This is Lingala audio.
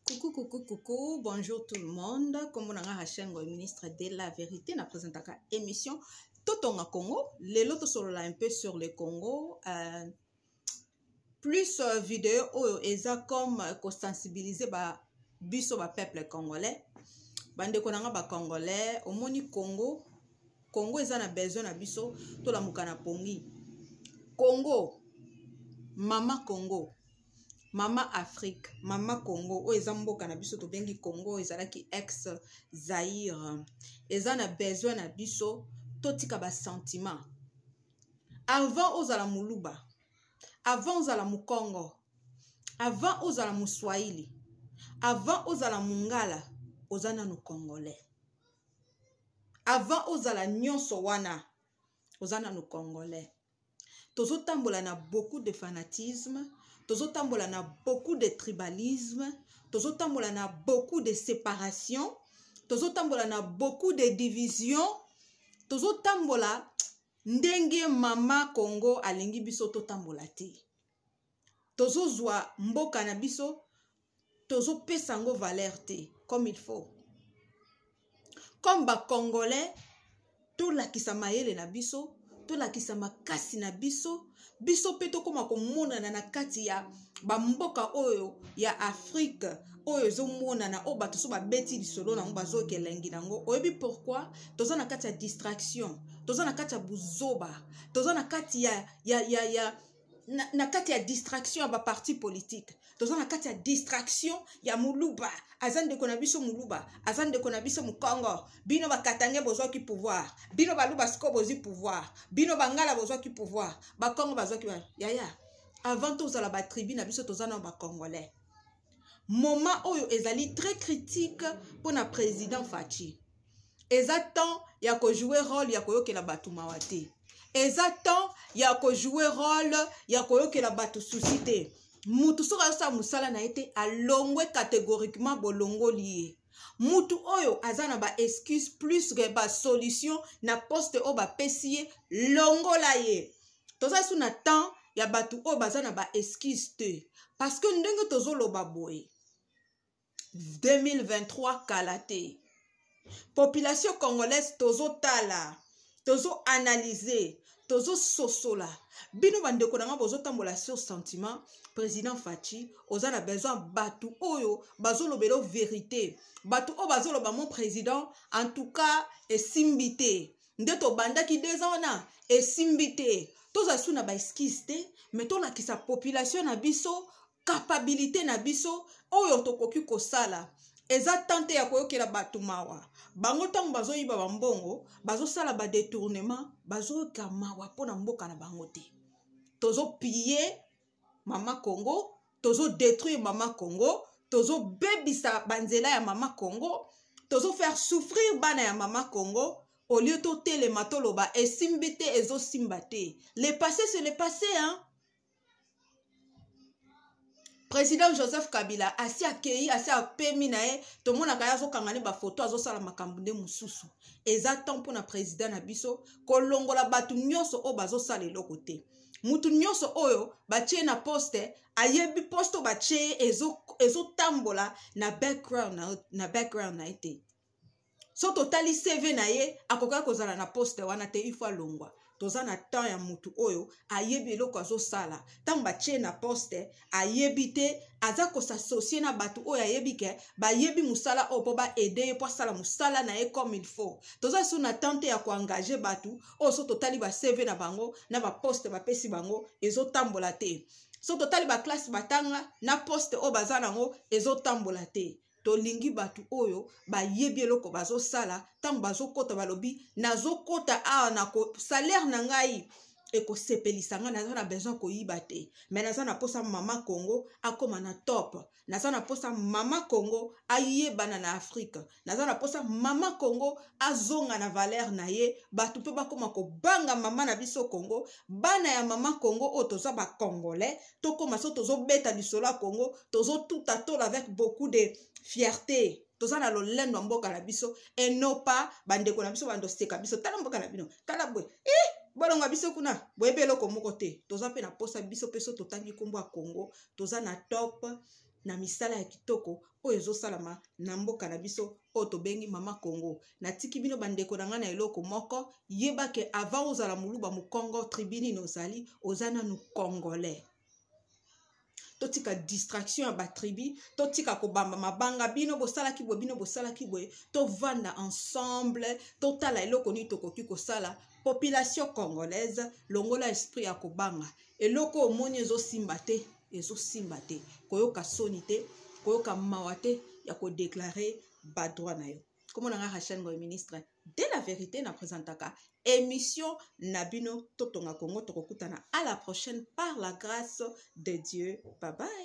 Coucou, coucou, coucou, bonjour tout le monde. Comme on a Hachengo, ministre de la Vérité, na présentaka émission Totonga Congo. Les lotos sont là un peu sur le Congo. Euh, plus euh, vidéo oyo eza comme euh, ko sensibiliser ba biso ba peuple congolais. Bande konanga ba congolais, omoni Congo. Congo eza na besoin na biso to la mukana pongi. Congo, mama Congo. mama afrique mama congo oyo eza mboka na biso tobengi congo ezalaki ex zaire eza na besoin na biso totika basentiment avant ozala moluba avant ozala mokongo avant ozala moswahili avant ozala mongala oza nano congolais avant ozala nyonso wana oza nano congolais tozotambola na beaucoup de fanatisme tozotambola na beaucoup de tribalisme tozotambola na beaucoup de séparation tozotambola na beaucoup de division tozotambola ndenge mama congo alingi biso totambola te tozozwa mboka na biso tozopesa yango valeur te comme il faut comme bacongolais tolakisa mayele na biso tolakisa makasi na biso biso mpe tokóma komonana na kati ya bamboka oyo ya afrike oyo ezomonana oyo bato so babeti lisolo nango bazoyoka elengi nango oyebi pourkui toza na kati ya distraction toza na kati ya buzoba toza na kati ya, ya, ya, ya na, na kati ya distraction ya baparti politique toza na kati ya distraction ya moluba aza ndeko na biso moluba aza ndeko na biso mokongo bino bakatange bozwaki pouvoir bino baluba siko bozwi pouvoir bino bangala bozwaki pouvoir bakongo bazwaki yaya avant tozala batribu na biso toza na bacongolais moment oyo ezali très critique mpo na président faci eza temps ya kojoue role ya koyokela bato mawa te eza temps ya kojoue role ya koyokela bato susi te mutu soki azosala mosala na ye te alongwe catégoriquement bolongoli ye mutu oyo aza na baexcuse plus ke basolution na poste oyo bapesi ye longola ye toza lisusu na temps ya bato oyo baza na baexcuse te parce que ndenge tozoloba boye 2023 kala te population congolaise tozotala tozoanalyse tozososola bino bandeko na ngai bozotambola sur sentiment président faci oza na besoin bato oyo bazolobela verité bato oyo bazoloba mon président en tout cas esimbi te nde tobandaki deux ans wana esimbi te tozala su na baeskise te me tolakisa population na biso kapabilite na biso oyo tokoki kosala eza tante ya koyokela bato mawa bango ntango bazoyiba bambongo bazosala badetournement bazoyoka mawa mpo na mboka na bango te tozopiye mama congo tozodétruire mama congo tozobebisa banzela ya mama congo tozofaire souffrir bana ya mama congo au lieu totelema toloba esimbi te ezosimba te le passé se le passé hein? président joseph kabila asi akei asi apemi na ye tomonaka ye azokanga ne bafoto azosala makambo nde mosusu eza temps mpona président na biso kolongola bato nyonso oyo bazosala eloko te mutu nyonso oyo batie na poste ayebi poste oyo batie ye ezotambola ezo na background na, na background na ye te so totali cv na ye akokaki kozala na poste wana te ifo alongwa toza na temps ya mutu oyo ayebi eloko azosala ntango batie na poste ayebi te aza kosasocie na bato oyo ayebi ke bayebi mosala oyo mpo baede ye mpo asala mosala na ye comme il faut toza so na temps te ya koengage bato oyo so totali bacv na bango na baposte bapesi bango ezotambola te so totali baklasse batanga na poste oyo baza na yango ezotambola te tolingi bato oyo bayebi eloko bazosala ntango bazokɔta balobi nazokɔta awa na salaire na ngai ekosepelisa ngai naza na besoin koyiba te mai naza na mposa mama congo akóma na top naza na mposa mama congo ayebana na afrike naza na mposa mama congo azonga na valere na ye bato mpe bakóma kobanga mama na biso congo bana ya mama congo oyo toza bacongolais tokoma so tozobeta lisolo ya congo tozotuta tola avec beaucoup de fierté toza na lolendo ya mboka na biso enopa bandeko na biso bandoseka biso tala mboka na bino tala boye eh, bolonga biso kuna boyebi eloko moko te toza mpe na mposa biso mpe so totangi nkombo ya congo toza na top na misala ya kitoko oyo ezosalama na mboka na biso oyo tobengi mama congo natiki bino bandeko na ngai na eloko moko yeba ke avant ozala moluba mokongo tribune na ozali oza nanu congolais totika distraction ya batribu totika kobamba mabanga bino bosalaki boye bino bosalaki boye tovanda ensemble totala eloko nini tokoki kosala population congolaise longola esprit ya kobanga eloko oyo omoni ezosimba te ezosimba te koyoka soni te koyoka mawa te ya kodeklare badroit na yo komona nga rachel ngoy ministre de la vérité na présentaka émission na bino totonga kongo tokokutana à la prochaine par la grâce de dieu babai